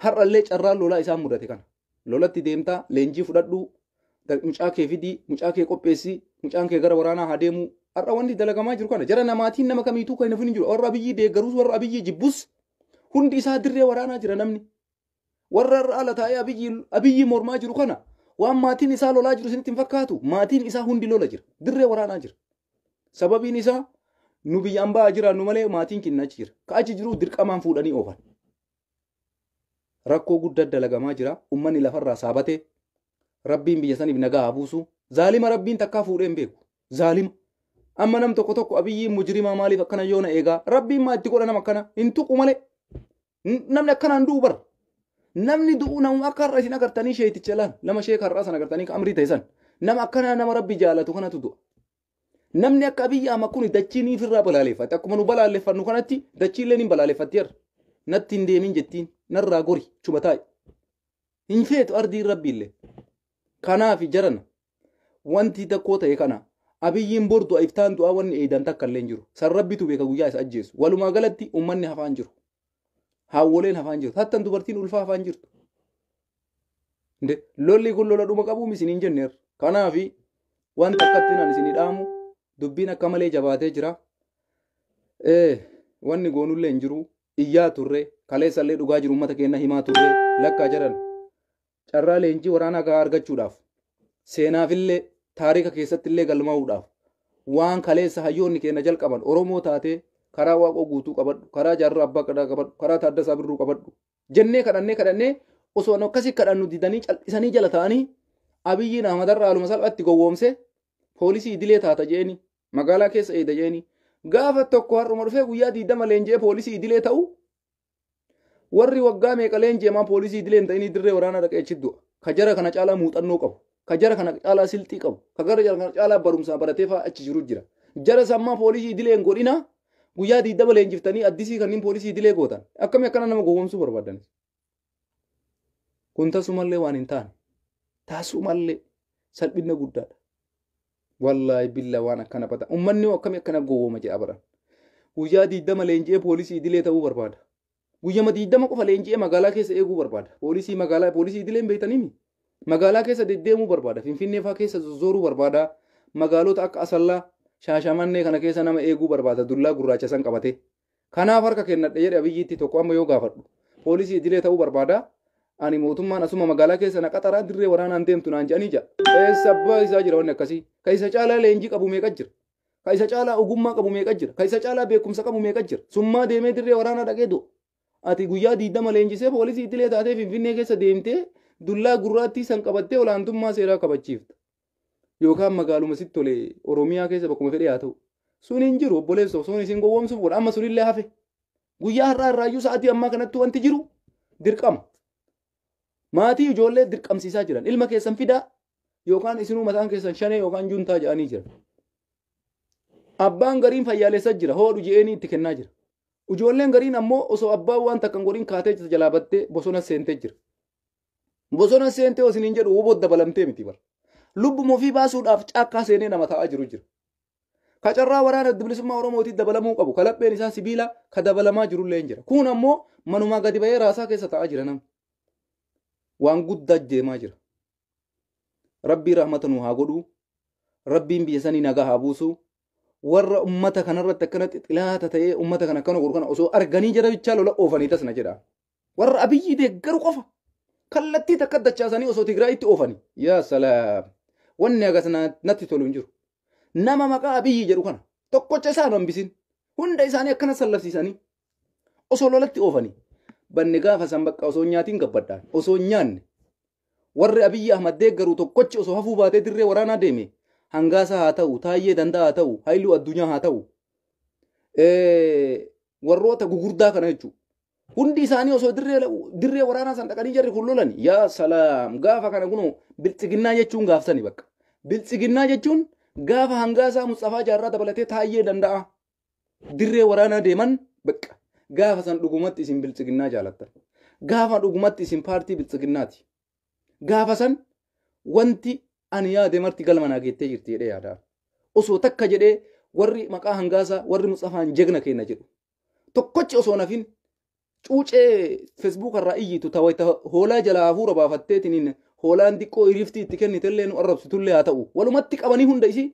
S1: Har'allee carraan lolaa isaan mudate kana. Lolatti deemtaa, leenjii fudhadhuu, da- mucaa kee fidii, mucaa kee qopheessi, mucaan kee gara waraanaa haa deemuu. Har'a wanni dalagamaa jiru kana. Jara namaatiin nama kamiituu kan hin hafin hin jiru. Warra abiyyii deeggarus, warra abiyyii jibbus hundi isaa dirree waraanaa jira namni. Warra har'a ala taa'ee abiyyii abiyyii mormaa jiru kana waan maatiin isaa lolaa jiru isinitti hin fakkaatu. Maatiin isaa hundi lola jira. Dirree waraanaa jira. Sababiin isaa nu biyya ambaa jiraannu malee maatiin keenya achi jira. Ka achi jiru dirqamaan fuudhanii oofan. Rakkoo guddaa dalagamaa jira. Uummanni lafarraa saabatee rabbiin biyya saniif nagaa haa buusu. Zaalima rabbiin takkaa fuudhee hin beeku. Zaalima. Amma nam tokko tokko abiyyiin mujirimaa maaliif akkana yoona eegaa rabbiin maa itti godha nama akkana hin tuqu malee. N- Namni akkanaan du'u bara. Namni du'u namuma akka har'a isin agartanii sheeticha laan nama sheeka har'aa sana agartanii kan amrii ta'e san. Nama akkanaa nama rabbi jaalatu kanatu du'a. Namni akka Abiyyi Ahmad kun dachii ni ofirraa balaaleffate. Akkuma nu balaaleffannu kanatti dachiillee ni balaaleffatti har'a. Natti hin deemin jettiin. Narraa gori. Chuma taa'i. Hin feetu ardiin rabbiillee. Kanaaf jarana. Wanti takkoo ta'e kana. Abiyyiin bor du'a iftaan du'aa wanni eeydan takka illee hin jiru. San rabbitu beeka guyyaa isa ajjeesu. Walumaa galatti ummanni hafaan jiru. Haawwoleen hafaan jiru. Hattan dubartiin ulfaa hafaan jirtu. Lolli kun lola dhuma qabuum isin hin jenneer. Kanaaf waan takkatti nan isin dhaamu dubbiin akka malee jabaatee jira. Wanni goonullee hin jiru. Iyyaa turre. Kaleessallee dhugaa jiru uummata keenya himaa turre. Lakkaa jedhan. carraa leenjii waraanaa gahaa argachuudhaaf seenaafillee taarika keessattillee galmaa'uudhaaf waan kaleessa hayyoonni keenya jalqaban Oromoo taatee karaa waaqoo guutuu qabadhu karaa jaarraa abbaa gadaa qabadhu karaa taaddasaa birruu qabadhu jennee kadhannee kadhannee osoo nu akkasii kadhannu didanii cal'isanii jala ta'anii abiyyiin ahmadarra haaluma salphatti gowwoomse poolisii idilee taata jeeni magaalaa keessa eeda jeeni gaafa tokko har'uma dhufee guyyaa diidama leenji'ee poolisii idilee ta'u Warri waggaa meeqa leenji'amaa poolisii idilee hin ta'inii dirree waraanaa dhaqee achi du'a. Ka jara kana caalaa muuxannoo qabu. Ka jara kana caalaa silxii qabu. Ka gara jara kana caalaa barumsaa baratee fa'aa achi jiru jira. Jara sammaa poolisii idilee hin godhinaa guyyaa diidama leenjiftanii addisii kanneen poolisii idilee gootan. Akkamii akkana nama gowwoomsuu barbaaddanis. Kun tasumallee waan hin taane. Tasumallee salphinna guddaadha. Wallaahi billa waan akkana bata. Ummanni hoo akkamii akkana gowwooma jedha bara. Guyyaa diidama leenji'ee poolisii idilee ta'uu barbaada. Guyyama diidama qofa leenji'ee magaalaa keessa eeguu barbaada. Poolisii magaalaa poolisii idilee hin beektaniimi. Magaalaa keessa deddeemuu barbaada. Finfinnee fa'aa keessa zozzooruu barbaada. Magaalota akka Asallaa, Shaashamannee kana keessa nama eeguu barbaada. Dullaa gurraacha san qabatee. Kanaaf harka kennadhe jedhe Abiyyiitti tokko amma yoo gaafadhu. Poolisii idilee ta'uu barbaada. Ani mootummaan asuma magaalaa keessa na qaxaraa dirree waraanaan deemtu naan jedhanii ja'a. Eessa abbaa isaa jira wanni akkasii? Ka isa caalaa leenjii qabu meeqa jira? Ka isa caalaa ogummaa qabu meeqa jira? Ka isa caalaa beekumsa qabu meeqa jira? Summaa deemee dirree waraanaa dhaqee du'a. Ati guyyaa diidama leenjisee poolisii idilee taatee Finfinnee keessa deemtee dullaa gurraattii san qabattee olaantummaa seeraa kabachiifta. yookaan magaaluma sitti tole Oromiyaa keessa bakkuma fedhe haa ta'u. Sun hin jiru obboleessa osoo isin gowwoomsuuf godha amma sunillee hafe. Guyyaa har'aa irraayyuu sa'aatii ammaa kanatti wanti jiru dirqama. Maatii ijoollee dirqamsiisaa jiran ilma keessan fidaa yookaan isinuu mataan keessan shanee yookaan juntaa jedhanii jiran. Abbaan gariin fayyaalessa jira hoodhu je'eenii itti kennaa jira. Ijoolleen gariin ammoo osoo abbaan waan takkan godhin kaatee jalaa battee bosona seentee jira. Bosona seentee osoo isiniin jedhu woboo dabalamtee miti bara. Lubbuma ofii baasuudhaaf caakkaa seenee nama taa'aa jiru jira. Ka carraa waraana adda bilisummaa Oromootii dabalamuu qabu, ka lapheen isaa sibiila, ka dabalamaa jirullee hin jira. Kun ammoo manumaa gadi bahee raasaa keessa taa'aa jira namni. Waan guddaa deemaa jira. Rabbii rahmata nu haa godhuu. Rabbiin biyya sanii nagaa haa buusuu. Warra ummata kanarratti akkanatti xilaata ta'ee ummata kana akkana godhu kana osoo arganii jara bichaa lola oofanii tas na jedha. Warra Abiyyi deeggaru qofa. Kallattii takka dachaasanii osoo Tigraayitti oofanii. Yaa salaam. Wanni agas natti tolu hin jiru. Nama maqaa Abiyyi jedhu kana tokkocha isaa nu hambisin. Hunda isaanii akkana sallabsiisanii osoo lolatti oofanii. Banni gaafa san bakka osoo nyaatiin gabbadhaan osoo nyaanne warri Abiyyi Ahmad deeggaru tokkochi osoo hafuu baatee dirree waraanaa deeme hangaasaa haa ta'u taayyee danda'a haa ta'u haayiluu addunyaa haa ta'u warroota gugurdaa kana jechuudha. Hundi isaanii osoo dirree dirree waraanaa san dhaqanii jarri kun lolan yaa salaam gaafa kana kunoo biltsiginnaa jechuun gaaftani bakka. Biltsiginnaa jechuun gaafa hangaasaa Musxafaa Jaarraa dabalatee taayyee danda'a. Dirree waraanaa deeman bakka. Gaafa san dhugumatti isin biltsiginnaa jaalattan. Gaafa dhugumatti isin paartii biltsiginnaati. Gaafa san wanti ani yaade marti galma naa geettee jirti jedhee yaadaan. Osoo takka jedhee warri maqaa hangaasaa warri Musxafaan jegna keenya jedhu. Tokkochi osoo nafin cuucee Facebook irraa iyyitu ta wayita hoolaa jalaa hafuura baafatteetiniin hoolaan diqqoo iriiftii itti kennitellee nu arrabsitullee haa ta'u. Walumatti qabanii hunda isii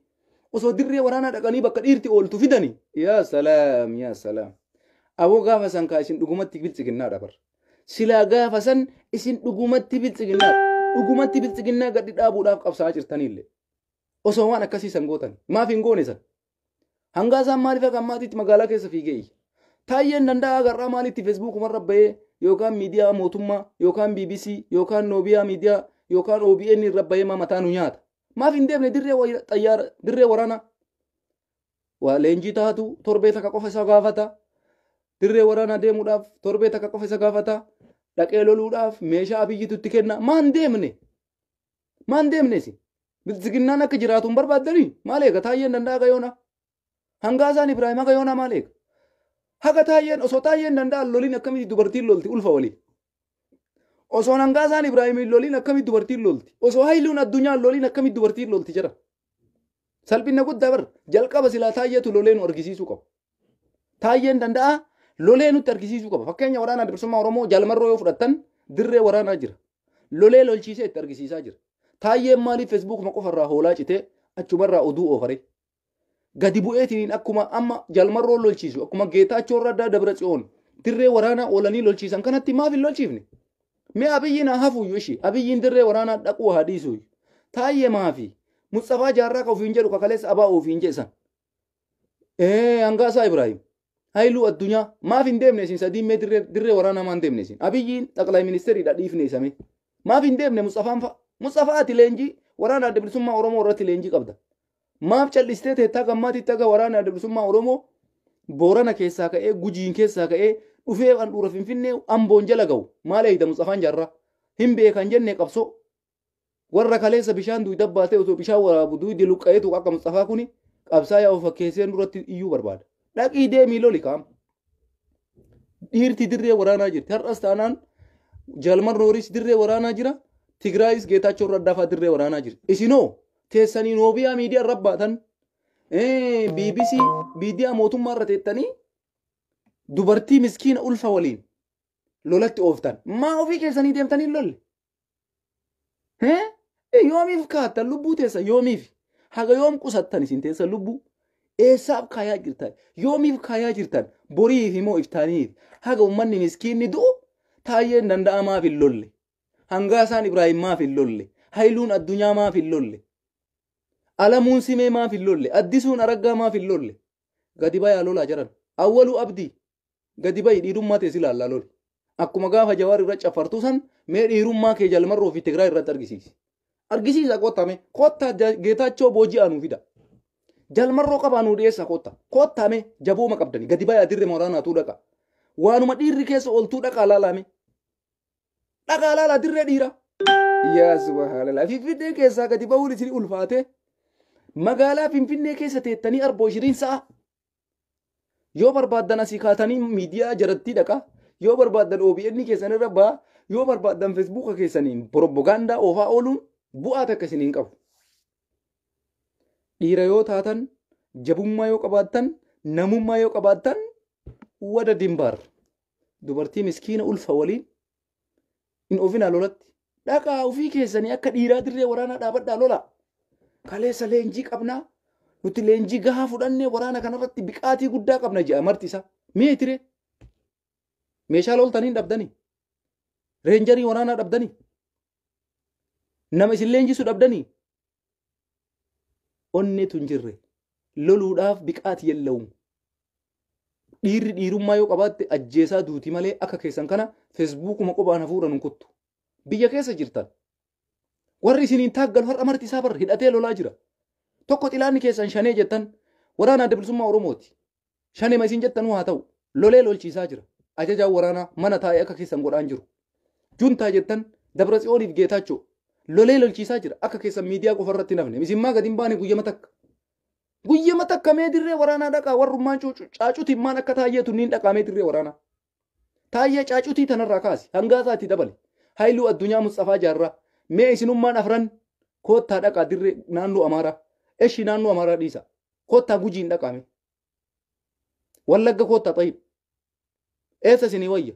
S1: osoo dirree waraanaa dhaqanii bakka dhiirti ooltu fidani. Yaa salaam yaa salaam. Aboo gaafa san kaa isin dhugumatti biltsiginnaa dhabar. Silaa gaafa san isin dhugumatti biltsiginnaa dhugumatti biltsiginnaa gaddi dhaabuudhaaf qabsaa'aa jirtaniillee. Osoo waan akkasii san gootan maaf hin goone san? Hangaa isaan maaliif akka ammaatiitti magaalaa keessa fiigee iyya. Taayyeen danda'a agarraa maaliitti feesbuukumarra bahee yookaan miidiyaa mootummaa yookaan BBC yookaan Noobiyaa miidiyaa yookaan OBN irra bahee maa mataa nu nyaata. Maaf hin deemne dirree wayira- xayyaara dirree waraanaa. Waa leenjii taatu torbee takka qofa isa gaafata. Dirree waraanaa deemuudhaaf torbee takka qofa isa gaafata. Dhaqee loluudhaaf meeshaa abiyyitu itti kenna. Maan deemne? Maan deemne isin? Biltsiginnaan akka jiraatu hin barbaaddanii? Maal eega? Taayyeen danda'a haga yoonaa? Hangaasaan Ibraahim haga yoonaa maal eega? Haga taayyeen osoo taayyeen danda'an loliin akkamitti dubartiin lolti ulfa waliin? Osoo hangaasaan Ibraahimiin loliin akkamitti dubartiin lolti? Osoo hayluun addunyaan loliin akkamitti dubartiin lolti jira? Salphina guddaa bar jalqaba silaa taayyeetu lolee nu argisiisuu qaba. Taayyeen danda'a lolee nutti argisiisuu qaba. Fakkeenya waraana bilisummaa Oromoo jaalmarroo yoo fudhattan dirree waraanaa jira. Lolee lolchiisee itti argisiisaa jira. Taayyeen maaliif Feesbuukuma qofarraa hoolaa citee achumarraa oduu oofaree? Gadi bu'eetiniin akkuma amma jalmarroon lolchiisu akkuma geetaachoo raddaa dabra tsiyoon dirree waraanaa oolanii lolchiisan kanatti maaf hin lolchiifne? Mee abiyyiin haa hafuuyyu ishii abiyyiin dirree waraanaa dhaquu haa dhiisuuyyu. Taayyee maafi? Mutsafaa jaarraa ka ofiin jedhu kakaleessa abaa ofiin jedhe san. Ee hangaasaa Ibrahim. Hailuu addunyaa maaf hin deemne isin sadiin mee dirree dirree waraanaa maan deemne isin. Abiyyiin xaqlay ministeeriidha dhiifne isamee. Maaf hin deemne Musxafaan fa'a. Musxafaa ati leenjii waraana adda bilisummaa Oromoo irratti leenjii qabda. Maaf cal'istee teettaa gammaatiitti aga waraana adda bilisummaa Oromoo Boorana keessaa ka'ee Gujiin keessaa ka'ee dhufee handhuura Finfinnee Amboon jala ga'u maal eeyda Musxafaan jaarraa. Hin beekan jenne qabsoo Warra kaleessa bishaan duuyda baatee osoo bishaan waraabu duuydi luqqa'eetu akka Musxafaa kuni qabsaayaa of fakkeessee nurratti iyyuu barbaada. Dhaqii deemii loli kaam. Dhiirti dirree waraanaa jirti. Har'as taanaan Jalmar Nooris dirree waraanaa jira. Tigraayis Geetaachoo Raddaafaa dirree waraanaa jira. Isinoo teessanii noobiyaa miidiyaa irra baatan BBC miidiyaa mootummaa irra teettanii dubartii miskiina ulfa waliin lolatti ooftan. Maa ofii keessanii deemtanii lolle? Eh? Eh, Yoomiif kaattan lubbuu teessa yoomiif haga yoom qusattan isin teessa lubbuu eessaaf kaayaa jirtan yoomiif kaayaa jirtan boriif himoo iftaaniif haga ummanni miskiinni du'u taayyeen danda'aa maaf hin lolle hangaasaan Ibraahim maaf hin lolle hayiluun addunyaa maaf hin lolle alamuun simee maaf hin lolle addisuun araggaa maaf hin lolle gadi bayaa lolaa jiran awwaluu abdii Gadi ba'i dhiirummaa tees ilaallaa loli. Akkuma gaafa jawaar irra caffartuu san mee dhiirummaa kee jalmarroo fi Tigraay irratti argisiisi. Argisiisa kottaa mee kottaa geetaachoo booji'aa nuu fida. Jalmarroo qabaa nuu dhiyeessa kottaa. Kottaa mee jabooma qabdani gadi ba'i adirre moraanaatuu dhaqa. Waanuma dhiirri keessa oltuu dhaqaa laalaa mee. Dhaqaa laalaa dirree dhiiraa. Yaa subhaanallah finfinnee keessaa gadi ba'uun isin ulfaatee. magaalaa finfinnee keessa teettanii arboo ishiriin sa'a Yoo barbaaddan asii kaatanii miidiyaa jarattii dhaqa. Yoo barbaaddan OBN keessan irra ba'a. Yoo barbaaddan Feesbuuka keessaniin propagaandaa oofaa ooluun bu'aa takka isin hin qabu. Dhiira yoo taatan, jabummaa yoo qabaattan, namummaa yoo qabaattan, wada dimbaar. Dubartii miskiina ulfa waliin hin ofinaa lolatti. Dhaqaa ofii keessanii akka dhiiraa dirree waraanaa dhaabadhaa lolaa. Kaleessa leenjii qabnaa nuti leenjii gahaa fudhannee waraana kanarratti biqaatii guddaa qabna jedha marti isaa. Meetire meeshaa loltanii dhabdanii reenjarii waraanaa dhabdanii nama isin leenjisu dhabdanii onneetu hin jirre loluudhaaf biqaati yella'uun dhiirri dhiirummaa yoo qabaatte ajjeesaa duuti malee akka keessan kana feesbuukuma qophaan hafuura nun kuttu biyya keessa jirtan warri isiniin taaggalu har'a marti isaa barra hidhatee lolaa jira tokko xilaanni keessan shanee jettan waraana adda bilisummaa oromooti Shanema isin jettanuu haa ta'u. Lolee lolchiisaa jira. Ajajaan waraanaa mana taa'ee akka keessan godhaan jiru. Juntaa jettan Dabra Tsiyooniif Geetaachoo lolee lolchiisaa jira. Akka keessan miidiyaa qofa irratti hin hafne. Isin maa gadi hin baane guyyama takka. Guyyama takka mee dirree waraanaa dhaqaa warrummaan caacutiin maan akka taayyeetu niin dhaqaa mee dirree waraanaa. Taayyee caacutii tanarraa kaasi. Hangaasaa itti dabali. Hayluu Addunyaa Musxafaa Jaarraa. Mee isinummaan afran koottaa dhaqaa dirree naannoo Amaaraa. Eshi naannoo Amaaraa dhiisa. Koottaa gujiin dhaqaa mee. Wallagga koottaa xayib. Eessa isinii wayya?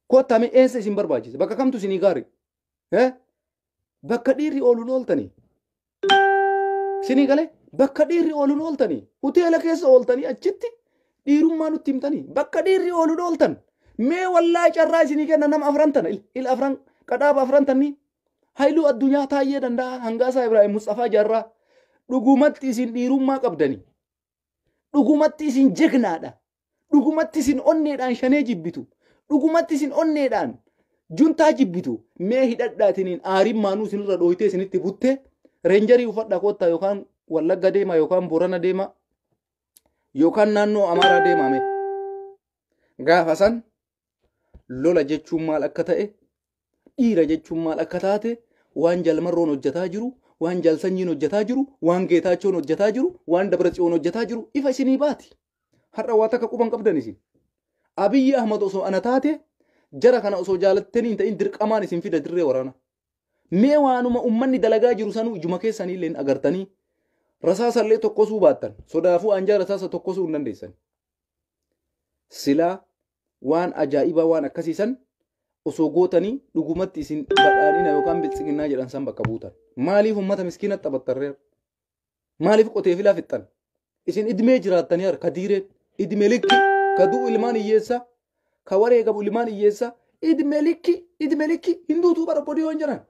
S1: Koottaa mee eessa isin barbaachisa? Bakka kamtu isinii gaari? Eh? Bakka dhiirri ooluun ooltanii. Sinii galee bakka dhiirri ooluun ooltanii. Hoteela keessa ooltanii achitti dhiirummaa nutti himtanii. Bakka dhiirri ooluun ooltan. Mee wallaahi carraa isinii kenna nama afran tana. Il, il afran qadhaaba afran tannii. Hailuu addunyaa taayyee danda'a hangaasaa Ibraahim Musxafaa Jaarraa. Dhugumatti isin dhiirummaa qabdanii. Dhugumatti isin jegnaadha. Dhugumatti isin onneedhaan shanee jibbitu. Dhugumatti isin onneedhaan juntaa jibbitu. Mee hidhadhaatiniin aariin maanuu isinirra dhooytee isinitti butte reenjarii uffadha koottaa yookaan wallagga deema yookaan boorana deema yookaan naannoo amaaraa deemame. Gaafa san lola jechuun maal akka ta'e dhiira jechuun maal akka taate waan jalmarroon hojjetaa jiru waan jalsanyiin hojjetaa jiru waan geetaachoon hojjetaa jiru waan dabratsiyoon hojjetaa jiru ifa isinii baati har'a waa takka quban qabdan isin abiyyi ahmad osoo ana taate jara kana osoo jaalattanii hin ta'in dirqamaan isin fida dirree waraana mee waanuma ummanni dalagaa jiru sanuu ijuma keessanii illee agartanii rasaasallee tokkosuu baattan sodaafuu anjaa rasaasa tokkosuu hin dandeessan Silaa waan ajaa'ibaa waan akkasii san osoo gootanii dhugumatti isin badhaadhina yookaan biltsiginnaa jedhan san bakka buutan. Maaliif uummata miskiina taphattarreera? Maaliif qotee filaa fixxan? Isin idmee jiraattanii harka diireen idme likki ka du'u ilmaan hiyyeessaa ka wareegamu ilmaan hiyyeessaa idme likki idme likki hin duutu bara obbodiyoon jedhan.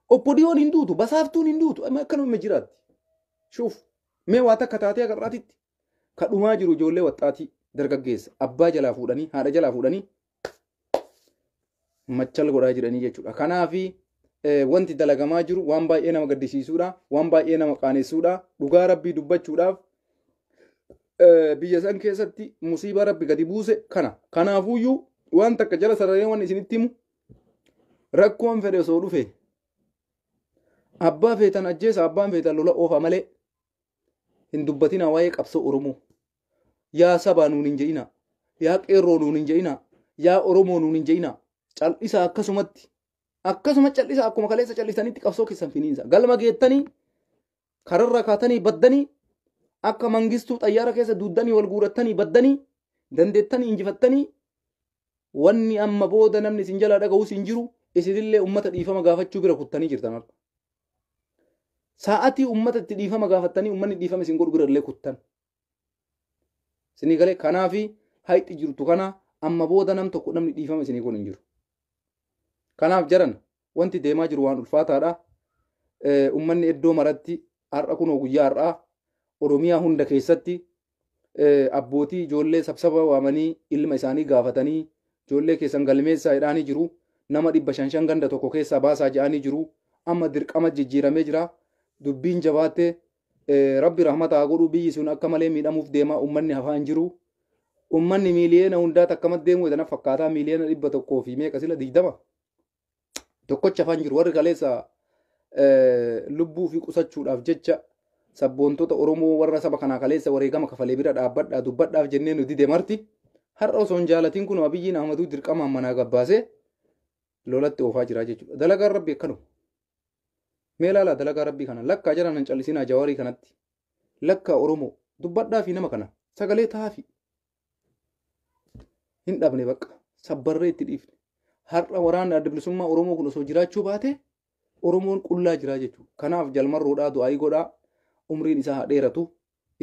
S1: Obbodiyoon hin duutu basaaftuun hin duutu amma akkanuma jiraatti. Shuuf mee waa takka taatee agarraatitti. Ka dhumaa jiru ijoollee waxxaatii dargaggeessa abbaa jalaa fuudhanii haadha jalaa fuudhanii machal godhaa jiranii jechuudha. Kanaafi wanti dalagamaa jiru waan baay'ee nama gaddisiisuudha, waan baay'ee nama qaanessuudha. Dhugaa rabbii dubbachuudhaaf biyya san keessatti musiibaa rabbi gadi buuse kana. Kanaafuyyuu waan takka jala sararee waan isinitti himu rakkoon fedhe osoo dhufe abbaa feetan ajjeesa abbaan feetan lola oofa malee hin dubbatinaa waa'ee qabsoo oromoo yaa sabaa nuun hin je'inaa yaa qeerroo nuun hin je'inaa yaa oromoo nuun hin je'inaa cal'isaa akkasumatti akkasuma cal'isaa akkuma kaleessa cal'isanitti qabsoo keessan finiinsa galma geettanii kararra kaatanii baddanii akka mangistuu xayyaara keessa duuddanii wal guurattanii baddanii dandeettanii injifattanii wanni amma booda namni isin jalaa dhaga'us hin jiru isinillee ummata dhiifama gaafachuu bira kuttanii jirtan harka. Sa'atii ummata itti dhiifama gaafattanii ummanni dhiifama isin godhu bira illee kuttan. Isinii galee kanaafi hayxi jirtu kana amma booda nam tokko namni dhiifama isinii godhu hin jiru. Kanaaf jaran wanti deemaa jiru waan ulfaataadha. Ummanni iddoo maratti har'a kunoo guyyaa har'aa Oromiyaa hunda keessatti abbootii ijoollee sabsaba waamanii ilma isaanii gaafatanii ijoollee keessan galmeessaa jedhaanii jiru. Nama dhibba shan shan ganda tokko keessaa baasaa jedhaanii jiru. Amma dirqama jijjiiramee jira. Dubbiin jabaatte rabbi rahmata haa godhu biyyi sun akka malee miidhamuuf deema ummanni hafaa hin jiru. Ummanni miiliyeena hundaa takkamatti deemuu jedhana fakkaataa miiliyeena dhibba tokkoo fi meeqa sila digdama. tokkocha afaan jiru warri kaleessa lubbuu fi qusachuudhaaf jecha sabboontota Oromoo warra saba kanaa kaleessa wareegama kafalee bira dhaabbadhaa dubbadhaaf jennee nu dide marti har'a osoo hin jaalatiin kun abiyyiin ahmaduu dirqamaan manaa gabbaasee lolatti oofaa jiraa jechuudha. Dalagaan rabbi akkanuma. Mee ilaalaa dalagaa rabbii kana lakkaa jalaan hin callisinaa jawaarii kanatti lakkaa Oromoo dubbadhaa fi nama kana sagalee tahaa fi hin dhabne bakka sabbarree itti dhiifne har'a waraanni adda bilisummaa oromoo kun osoo jiraachuu baate oromoon qullaa jiraa jechuudha kanaaf jalmarroodhaa du'aayii godhaa umriin isaa haa dheeratu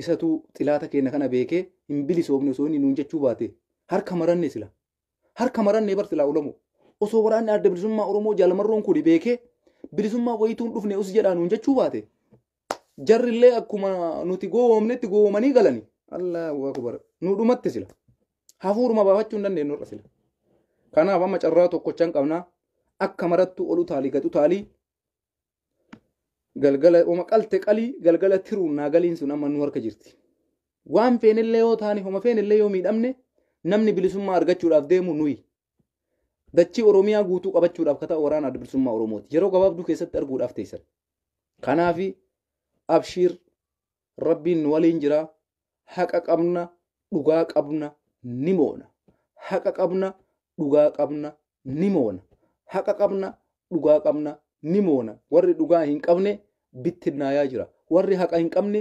S1: isatu xilaata keenya kana beekee hin bilisoofne osoo inni nuun jechuu baate harka maranne sila harka maranne bar silaa olomoo osoo waraanni adda bilisummaa oromoo jalmarroon kun beekee bilisummaa wayituun dhufne us jedhaa nuun jechuu baate jarri illee akkuma nuti gowwoomnetti gowwoomanii galani allahu akbar nu dhumatti sila hafuuruma baafachuu hin dandeenyu irra sila kanaaf amma carraa tokkochan qabnaa akka marattu ol utaalii gad utaalii galgala oma qalte qalii galgala tiruun naa galiin sun amma nu harka jirti waan feenillee yoo taane homa feenillee yoo miidhamne namni bilisummaa argachuudhaaf deemu nuyi dachii oromiyaa guutuu qabachuudhaaf kataa waraana adda bilisummaa oromooti yeroo gabaabduu keessatti arguudhaaf teessan kanaafi abshiir rabbiin nu waliin jira haqa qabna dhugaa qabna ni moona haqa qabna dhugaa qabna ni moona haqa qabna dhugaa qabna ni moona warri dhugaa hin qabne bittinnaayaa jira warri haqa hin qabne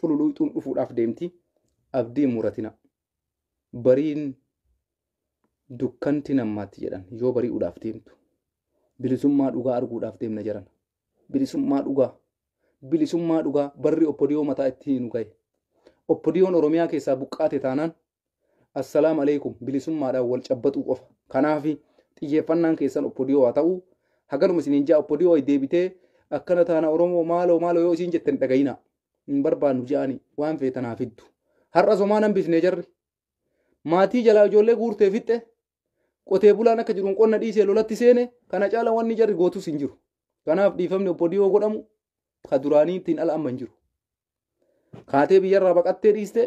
S1: cululuuxuun dhufuudhaaf deemti abdii muratina bariin dukkanti nammaatti jedhan yoo bari'uudhaaf deemtu bilisummaa dhugaa arguudhaaf deemna jedhan bilisummaa dhugaa bilisummaa dhugaa barri oppodiyoo mataa itti hiinu gahe oppodiyoon oromiyaa keessaa buqqaate taanaan Assalaam alaikum bilisummaadhaan wal cabbaxuu qofa. Kanaaf xiyyeeffannaan keessan oppodiyoo haa ta'u. Haganuma isiniin ja'a oppodiyoo deebitee akkana taana Oromoo maaloo maaloo yoo isiin jettan dhagayina. Hin barbaannu ja'ani waan feetan haa fiddu. Har'a somaan hambifnee jarri. Maatii jalaa ijoollee guurtee fixxe. Qotee bulaan akka jiruun qonna dhiisee lolatti seene kana caala wanni jarri gootus hin jiru. Kanaaf dhiifamni oppodiyoo godhamu ka duraanii ittiin ala amma hin jiru. Kaatee biyyarraa baqattee dhiistee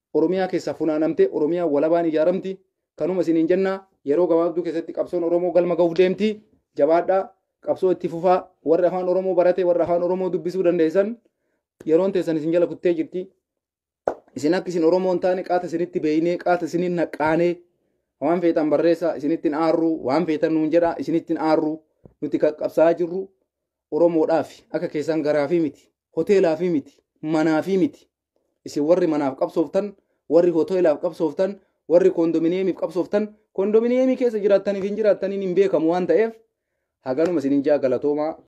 S1: Oromiyaa keessaa funaanamtee Oromiyaan walabaan ijaaramti. Kanuma isiniin jenna. Yeroo gabaabduu keessatti qabsoon Oromoo galma gahuuf deemti. Jabaadhaa. Qabsoo itti fufaa. Warri afaan Oromoo barate, warri afaan Oromoo dubbisuu dandeessan yeroon teessan isin jala kuttee jirti. Isin akka isin Oromoo hin taane qaata isinitti beeynee, qaata isiniin naqqaanee waan feetan barreessaa isinitti hin aarru, waan feetan nuun jedhaa isinitti hin aarru. Nuti kan qabsaa'aa jirru Oromoodhaafi. Akka keessan garaafii miti. Hoteelaafii miti. Manaafii miti. Isin warri manaaf qabsooftan, warri hoteelaaf qabsooftan, warri koondominiyeemiif qabsooftan, koondominiyeemii keessa jiraattaniif hin jiraattaniin hin beekamu waan ta'eef haganuma isinin jaa galatoomaa.